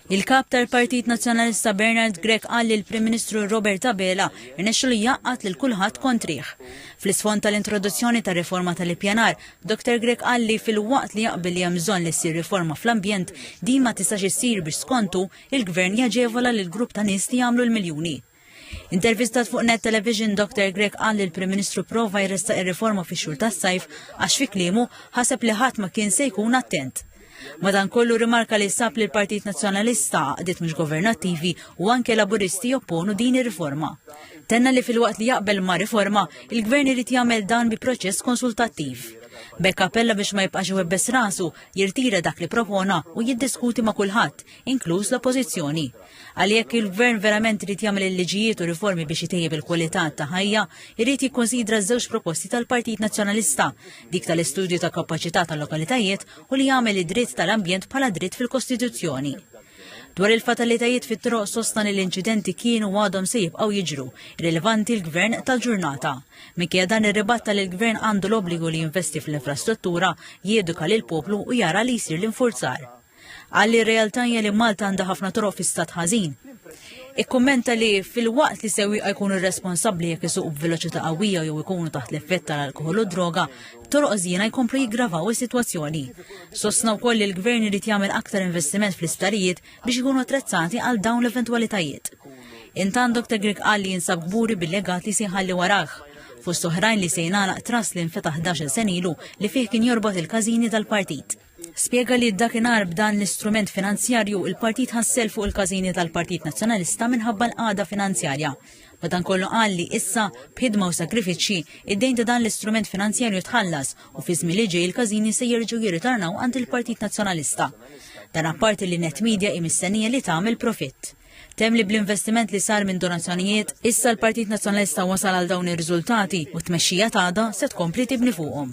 Il-Kap tal-Partit Nazzjonalista Bernard Grech qal li l-Prim Ministru Robert Abela rnexxilu jgħaqqad lil kulħadd kontrih. Fl-isfond tal-introduzzjoni tar-riforma tal-ippjanar, Dr Grech qal li filwaqt li jaqbel li hemm bżonn li ssir riforma fl-ambjent, din ma tistax issir biex skont hu, il-Gvern jaġevola lill-grupp ta' nies li jagħmlu l-miljuni. Intervistat fuq Net Television, Dr. Grek qal li l-Prim Ministru prova jressaq ir-riforma fix-xhur tas-sajf għax fi kliemu ħaseb li ħadd ma kien se jkun attent. Madankollu rimarka li sab li l-Partit Nazzjonalista għaqdiet mhux governattivi u anke laburisti jopponu din ir-riforma. Tenna li fil-waqt li jaqbel ma' riforma, il-gvern irid jagħmel dan bi proċess konsultattiv. Bekk appella biex ma jibqax iwebbes rasu, jirtira dak li propona u jiddiskuti ma' kulħadd, inkluż l-oppożizzjoni. Għalli jekk il-Gvern verament irid jagħmel il-liġijiet u riformi biex itejjeb il-kwalità ta' ħajja, irid jikkonsidra żewġ proposti tal-Partit Nazzjonalista, dik tal-istudju ta' kapaċità tal-lokalitajiet u li jagħmel id-dritt tal-ambjent bħala dritt fil-Kostituzzjoni. Dwar il-fatalitajiet fit-troq sostna li l-inċidenti kienu għadhom se jibqgħu jiġru, rilevanti l-Gvern tal-ġurnata. Minkejja dan irribatta li l-Gvern għandu l-obbligu li jinvesti fl-infrastruttura, jieduka lill-poplu u jara li jsir l-infurzar. Qal li r-realtà hija li Malta għandha ħafna toroq fi stat ħażin. Ikkummenta li fil-waqt li sewwieqa jkunu responsabbli jekk isuqu b'veloċità qawwija jew ikunu taħt l-effett tal-alkoħol u droga, toroq żjiena jkomplu jiggravaw is-sitwazzjoni. Sostna wkoll li l-Gvern irid jagħmel aktar investiment fl-isptarijiet biex ikunu attrezzati għal dawn l-eventwalitajiet. Intant Dr. Greg qal li jinsab kburi bil-legat li se jħalli warah fost oħrajn li se jingħalaq tras li nfetaħ 11 sen ilu li fih kien jorbot il-każini tal-partit. Spjega li dakinhar b'dan l-istrument finanzjarju il-partit ħassel fuq il-każini tal-Partit Nazzjonalista minħabba l-qagħda finanzjarja. Madankollu qal li issa, b'ħidma u sagrifiċċji, id-dejn ta' dan l-istrument finanzjarju tħallas u fi żmien li ġej il-każini se jerġgħu jirritornaw għand il-Partit Nazzjonalista. Dan apparti li Net Media hi mistennija li tagħmel profitt. Tem li bl-investiment li sar minn donazzjonijiet, issa l-Partit Nazzjonalista wasal għal dawn ir-riżultati u t-tmexxija tagħda se tkompli tibni fuqhom.